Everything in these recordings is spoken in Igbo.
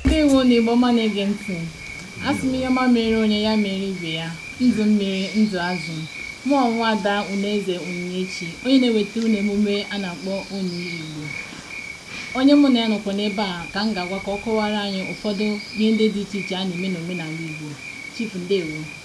ndewo nụ igbo ọma na-ege ntị asị m ihe ọma mere onye ya mere ibe ya ndụ mmiri ndụ azụ mụ wụ nwa ada unaeze onyinyechi onye na-eweta unu emume a na-akpọ onye igbo onye mụ na ya nọkwa n'ebe a ka m ga-agwa ka ọ kọwara anyị ụfọdụ ihe ndị dị iche iche a na-eme n'omenala igbo chief ndewo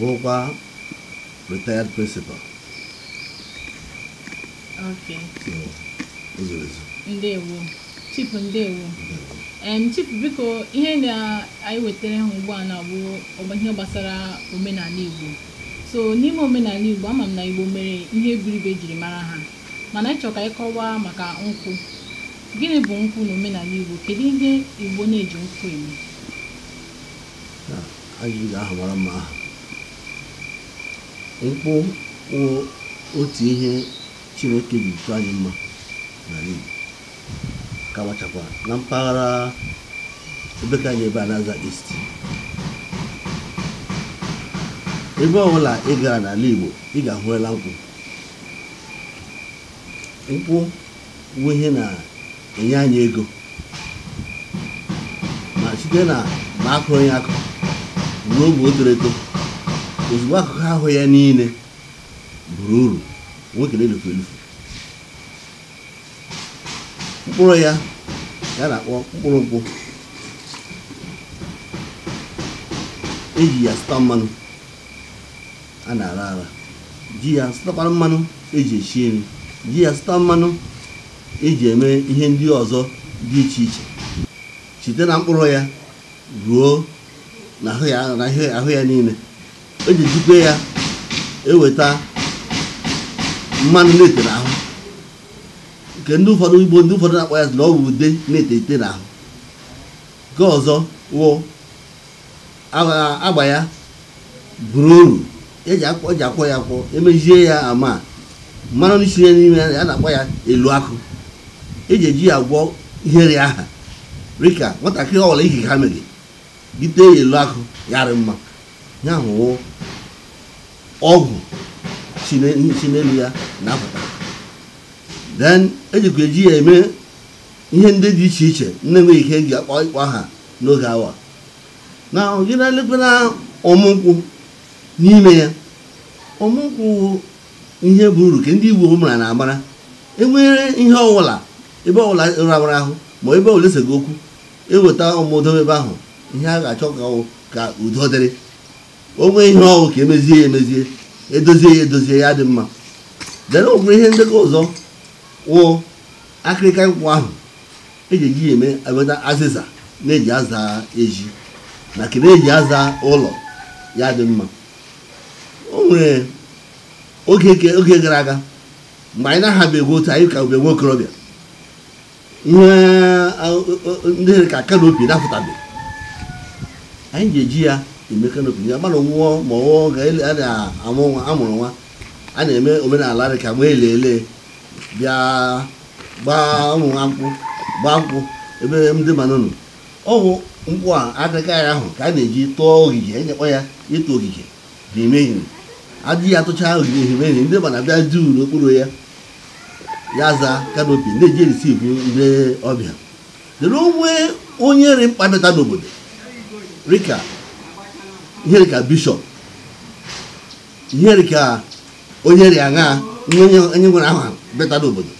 wụrụkwa retired principal Okay. so o zuru ezu ndewo chief ndewo em chief biko ihe na anyị wetara ha ugbu a na bụ ọgba- ihe gbasara omenala igbo so n'ime omenala igbo ama m na igbo nwere ihe buru ibu ejiri mara ha mana anyị chọrọ ka ị kọwaa maka nkwụ gịnị bụ nkwụ na omenala Igbo kedu ihe Igbo na-eji nkwụ eme ajụjụ gị ahụ mara mma aha nkwụ wụ otu ihe Chineke ji chọọ anyị mma n'ala Igbo ka machakwa na mpaghara ebe nke anyị ebe a na-aza East ebe ọbụla ị gara n'ala Igbo ị ga-ahụela nkwụ nkwụ bụ ihe na-enye anyị ego ma site na ma a kụrụ ya akụ ruo mgbe o toro eto ozugbo akụkụ ahụ ya niile buru uru o nweghị nke na-elufu elufu mkpụrụ ya ya na-akpọ mkpụrụ nkwụ eji ya sụta mmanụ a na-ara ara ji ya sụtakwara mmanụ eji esi nri ji ya sụta mmanụ eji eme ihe ndị ọzọ dị iche iche site na mkpụrụ ya ruo na ahụ ya na ihe ahụ ya niile eji ejikwe ya eweta mmanụ na-ete n'ahụ nke ndị ụfọdụ igbo ndị ụfọdụ na-akpọ ya sị na ọ bụ ude na-ete ete n'ahụ nke ọzọ wụ agba ya buru uru eji akwọ ya akwọ emezie ya ama mmanụ na-esi ya n'ime ya na-akpọ ya elu akụ eji eji ya agwọ ihe ọrịa ahụ rịka nwatakịrị ọbụla ihe a mere gị tee ya elu akụ ya rị mma ihe ahụ wụ ọgwụ si n'elu ya na-apụta then ejikwa eji ya eme ihe ndị dị iche iche na-enweghị ike eji akpọ ịkpọ aha n'oge awa na ọgịda lekwara ọmụ nkwụ n'ime ya ọmụ nkwụ ihe bụ uru ka ndị igbo mara na agbara enwere ihe ọwụla ebe ọwụla rawara ahụ ma ebe ọwụla esega okwu eweta ọmụ dobe ebe ahụ ihe a ga-achọ ka ọwụ ka udo dịrị o nwee ihe ọwụ ka emezie ya emezie edozie ya edozie ya dị mma dere o kwere ihe ndị ka ọzọ wụ akịrịka nkwụ ahụ eji eji emepụta azịza na-eji aza ezi na ke a na-eji aza ụlọ ya dị mma o nwere oge ke- oge gara aga mgbe anyị na-ahabeghị otu anyị ka bụ nwa okorobịa ihe a- o- o- ndị dị ka kanopi na-apụtabeghị anyị ji eji ya eme kanopi ya mmadụ nwụọ ma ọ wụ ga ele- a na-amụ nwa amụrụ nwa a na-eme omenala dị ka ma ele ele bịa gbaa ụmụ ha nkwụ gbaa nkwụ ebe ndị mmanụ nọ ọwụ nkwụ a akịrịka ya ahụ ka a na-eji tụọ ogige anyị kpọ ya ịtụ ogige n'ime ehiri adịghị atụcha ogige ehiri ehiri ndị mmanụ bịa juu n'okpuru ya ya za kanopi ndị eji erisivu ndị ọbịa dịrị o nwee onye rị mkpa bịata n'obodo rika ihe rika bishọp ihe rika onye rịa aṅa onye onye nwere aha bịata n'obodo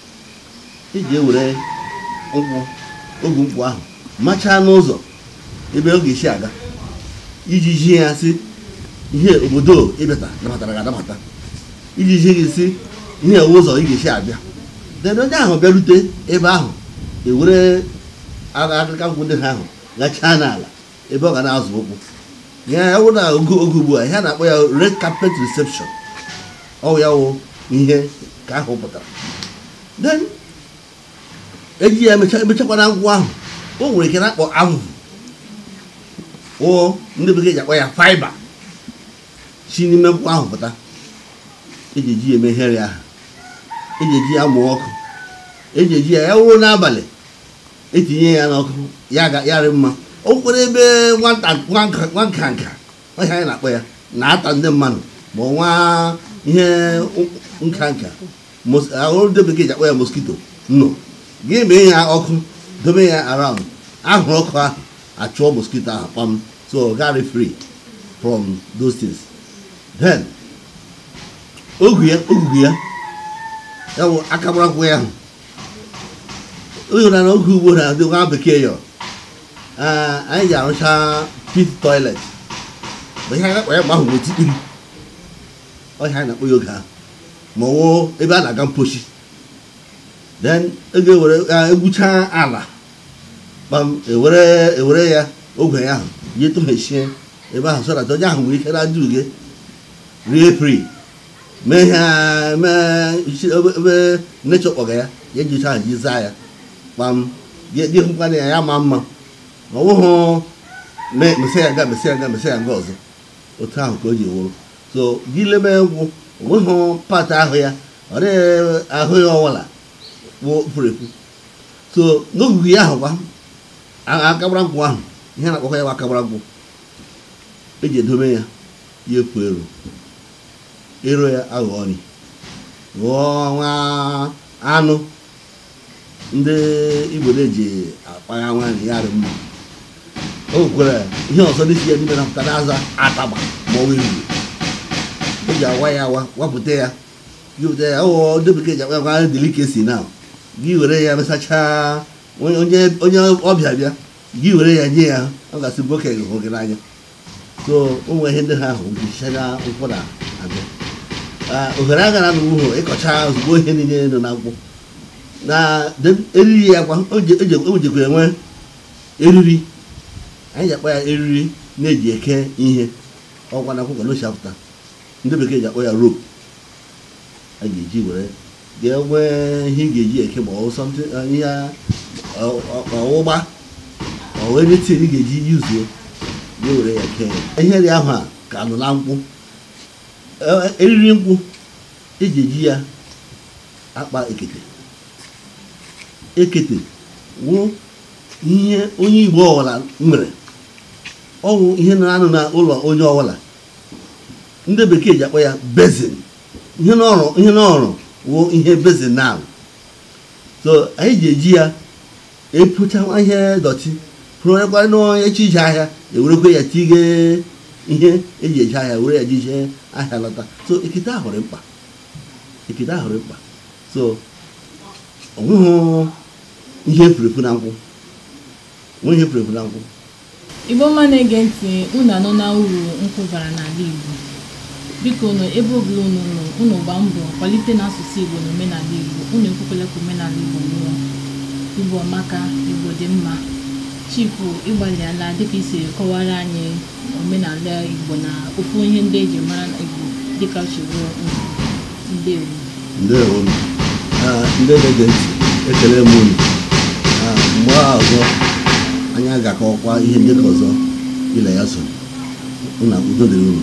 eji ewere nkwụ ogu nkwụ ahụ machaa n'ụzọ ebe ọ ga-esi aga iji zi ya sị ihe obodo ị bịata nabatara gị anabata iji zi gị sị ihe a wụ ụzọ ị ga-esi abịa then onye ahụ bịarute ebe ahụ ewere akwụkwọ nkwụ ndị ha ahụ gachaa n'ala ebe ọ ga na-azọ ụkwụ ya ya wụ na oge oge ugbu a ihe a na-akpọ ya red carpet reception ọ wụ ya wụ ihe ka ahụ pụtara then eji ya emecha emechakwana akwụ ahụ o nwere ke a na-akpọ avụvụ o ndị bekee ji akpọ ya fiber si n'ime akwụ ahụ pụta eji eji ya eme ihere ahụ eji eji ya mụọ ọkụ eji eji ya ya wụrụ n'abalị etinye ya n'ọkụ ya ga ya rị mma o kwere ebe nwata nwa nka nwa nka nka ihe a anyị na-akpọ ya na-ata ndị mmadụ bụ nwa ihe nka nka mos- ahụ ndị bekee ji akpọ ya moskito nọ gị mee ya ọkụ dobe ya around anwụrụ ọkụ ahụ achụọ moskito ahụ kpam so ọ ga-arị free from those things then ogu ya ogugu ya ya bụ aka gbara akwụkwọ ya ahụ ụyọrọ na oge gboo na ndị nwa bekee yọ anyị ji arụcha pit toilet bụ ihe anyị na-akpọ ya mgbe ahụ bụ tikpiri ọhịa anyị na-akpọ ya oge ahụ ma ọ wụ ebe a na-aga mpochi then ego ewere egwuchaa ala kpam ewere ewere ya ogwe ya ahụ ya etụghachie ebe ahụ so that onye ahụ nwere ike na-ajụ uge rie free mee ihe a mee isi ebe ebe nechọ kpọga ya ya eji ahụ ji zaa ya kpam gị gị hụkwana ya ya ma mma ma ọ bụghị me- mesi ya nga mesi ya nga mesi ya nga ọzọ otu ahụ ka o ji wụrụ so gị lebe nkwụ o nweghị part ahụ ya or ahụ ya ọwụla wụ pụrụ ekwu so n'ogugu ya ahụ kwa a- akagbara nkwụ ahụ ihe a na-akpọkọ ya bụ akagbara nkwụ eji edobe ya ya epu eru eru ya aghọọ nri ghọọ nwa anụ ndị igbo na-eji akpa nwa nri ya dị mma o nwere ihe ọzọ na-esi ya n'ime na-apụta na-aza atagba ma ọ wee o ji awa ya awa wapụta ya jupụta ya ụghọ ndị bekee ji akpọ ya kwa delicacy na gị were ya mesachaa onye ọbịa bịa gị were ya nye ya ọ ga-asị nwoke gị hụ gị n'anya so o nwere ihe ndị ha ahụ jichaga nkwụ na agụ ohere agaghị anọ ịkọcha ozugbo ihe niile nọ na nkwụ na eriri ya kwa o jikwa enwe eriri anyị ji akpọ ya eriri na-eji eke ihe ọkwa na nkwụ ka ọ na-esi apụta ndị bekee ji akpọ ya rope a ga-eji were ga-enwe ihe ị ga-eji eke ma ọ bụ something uh, ihe a- ọ- ọ- ọ wụ ugba ọ wụ anything ị ga-eji use gị were ya kee ya ihe ndị ahụ ka nọ na nkwụ E- eriri nkwụ eji eji ya akpa ekete ekete wụ ihe onye igbo ọwụla nwere ọ wụ ihe na-anọ na ụlọ onye ọwụla ndị bekee ji akpọ ya basin ihe ọ na-arụ ihe ọ na-arụ wụ ihe basin na so anyị ji eji ya epocha ihe dọtị ọ wụrụkwa n'ụbọchị ije ahịa ewerekwa ya tige ihe eji eje ahịa were ya ji ije ahịa lọta so ekete ahụ dị mkpa ekete ahụ dị mkpa so o nweghị ihe furu efu na nkwụ o nweghị ihe furu efu na nkwụ Igbo ọma na-ege ntị unu anụna uru nkwụ bara n'ala Igbo biko nụ ebe ọbụla unu nọ unu gbaa mbọ kwalite na asụsụ Igbo na omenala Igbo unu ekwekwala ka omenala Igbo nwụọ Igbo amaka Igbo dị mma Chifu ị gbalịala dịka i si kọwaara anyị omenala Igbo na ofu ihe ndị eji mara Igbo dịka chigbuo ndewo ndị na-ege ntị ekele m unu mgbe ọzọ anyị ga-akọkwa ihe ndị ọzọ ile ya so na udo dịrị unu